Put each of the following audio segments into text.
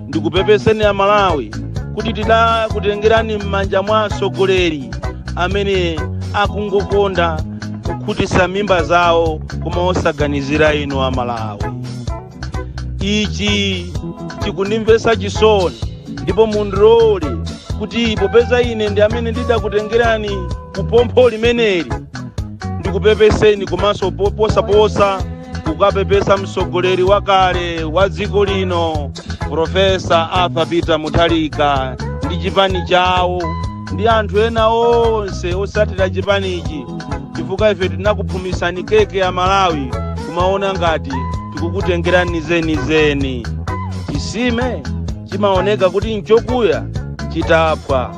ndikupepeseni amalawi kuti tidakutengerani m'manja mwa atsogoleri amene akungokonda kukhutisa mimba zawo koma osaganizira inu amalawi ichi chikundimvesa chisoni ndipo mundilole kuti popeza ine ndi amene ndidakutengerani kupompho limeneli ndikupepeseni komanso posaposa kukapepesa mtsogoleri wakale wa dziko lino profesa arthur peter mutharika ndi chipani chawo ndi anthu ena onse osatira chipanichi chifukwa ife tinakuphumisani keke ya malawi kumaona ngati tikukutengerani zenizeni chisime chimaoneka kuti nchokuya chitaphwa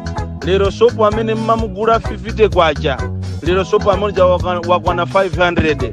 lero sopo amene mmamugula 50 kwacha lero sopo amodzi wakwana 500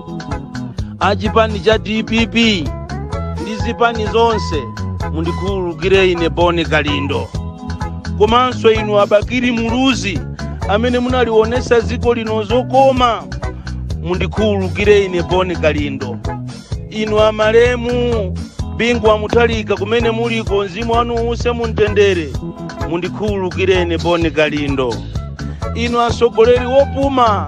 a chipani cha dpp ndi zipani zonse mundikhululukire ine boni kalindo komanso inu a bakili muluzi amene munalionesa dziko lino zokoma mundikhululukire ine boni kalindo inu amalemu bingu wa mutharika kumene muliko mzimu wanu uuse mumtendere mundikhululukire ine boni kalindo inu atsogoleri opuma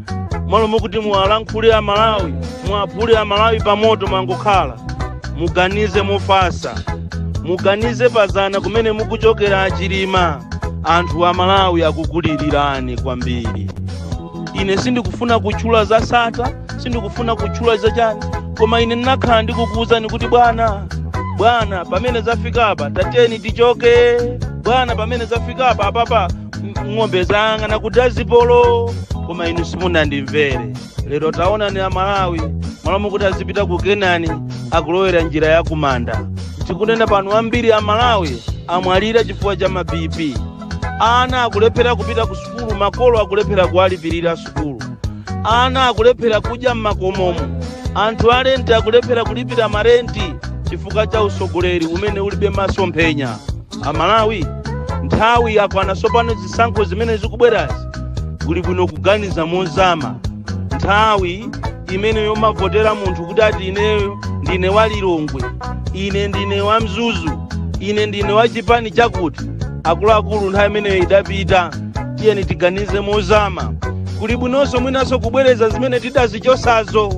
mmalo mokuti muwalankhule amalawi muwaphule amalawi pamoto mwangokhala muganize mofasa muganize pazana kumene mukuchokera achilima anthu amalawi akukulilirani kwambiri ine sindikufuna kutchula za sata sindikufuna kutchula za chani koma ine ndinakhala ndikukuwuzani kuti bwana bwana pamene zafikapa tateni tichoke bwana pamene zafikapa apapa ng'ombe zayang'ana kudazibomu koma inu simunandimvere lero taonani a malawi mmalo mokuti azipita ku kenani akulowera njira ya kumanda tikunena pano ambiri a malawi amwalira chifukwa cha mabipi ana akulephera kupita ku sukulu makolo akulephera kuwalipirira sukulu ana akulephera kudya m'makomomo anthu alenti akulephera kulipira marenti chifukwa cha usogoleri umene ulibe masomphenya amalawi nthawi yakwana tsopano zisankho zimene zikubwerazi kuli bwino kuganiza mozama nthawi imene yomavotera munthu kuti ati ineyo ndine wa lilongwe ine ndine wa mzuzu ine ndine wa chipani chakuti akuluakulu nthawi imeneyo idapita tiyeni tiganize mozama kuli bwinonso mwinanso kubwereza zimene tidazichosazo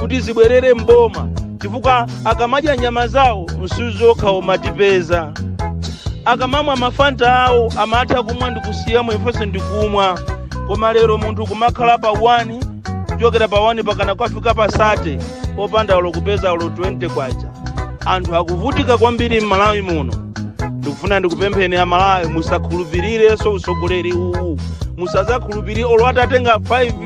kuti zibwerere mboma chifukwa akamadya nyama zawo msuzi wokha umatipeza akamamwa mafanta awo amatha kumwa ndikusiyamo ifenso ndikumwa koma lero munthu kumakhala pa 1 kuchokera pa 1 pakana kwafika pa 30 opanda olo kupeza olo 20 kwacha anthu akuvutika kwambiri m'malawi muno ndikufuna ndikupempheni amalawi musakhulupirirenso utsogoleri uwu musazakhulupirire olo atatenga 5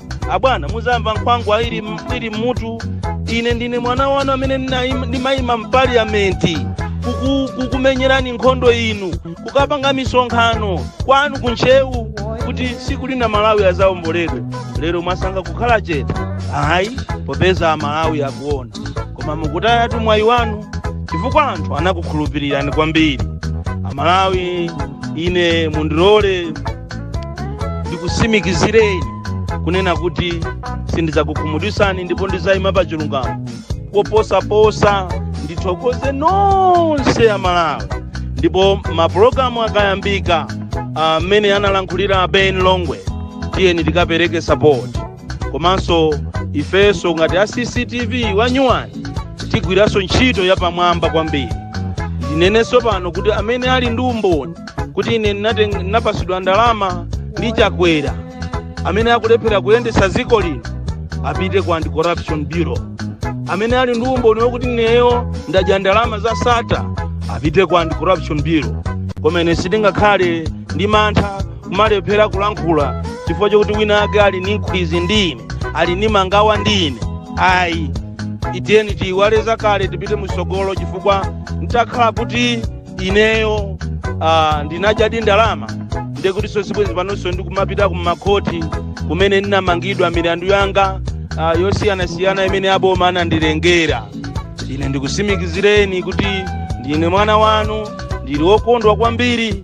abwana muzamva nkhwangwa ili mmutu ine ndine mwana wanu amene ndimayima mpaliyamenti kukumenyerani nkhondo inu kukapanga misonkhano kwanu kuntchewu kuti siku lina malawi azaomboledwe lero mwasanga kukhala chete ayi popeza amalawi akuona koma mukutayatu mwayi wanu chifukwa anthu anakukhulupirirani kwambiri amalawi ine mundilole ndikusimikizireni kunena kuti sindidzakukhumudwisani ndipo ndizayima pa chilungamo koposaposa ndithokoze nonse a malawi ndipo mapulogalamu akayambika amene analankhulira ben longwe tiyeni tikapereke sapoti komanso ifenso ngati a cctv wa nyuwani tigwiranso ntchito yapamwamba kwambiri ndinenenso pano kuti amene ali ndi umboni kuti ine ndinapasidwa ndalama ndi chakwera amene akulephera kuyendetsa dziko lino apite ku anti corruption bureau amene ali ndi umboni wokuti ineyo ndadya ndalama za sata apite ku anti corruption bureau koma ine sindingakhale ndi mantha kumalephera kulankhula chifukwa chokuti wina ake ali ni nkhwizi ndi ine ali ni mangawa ndi ine ayi tiyeni tiyiwale zakale tipite msogolo chifukwa ntakhala kuti ineyo ah, ndinadyadi ndalama ndekutinso sibwenzi panonso ndikumapita kumakhoti kumene ndinamangidwa milandu yanga ah, yosiyanasiyana imene aboma anandilengera ine ndikusimikizireni kuti ndine mwana wanu ndili wokondwa kwambiri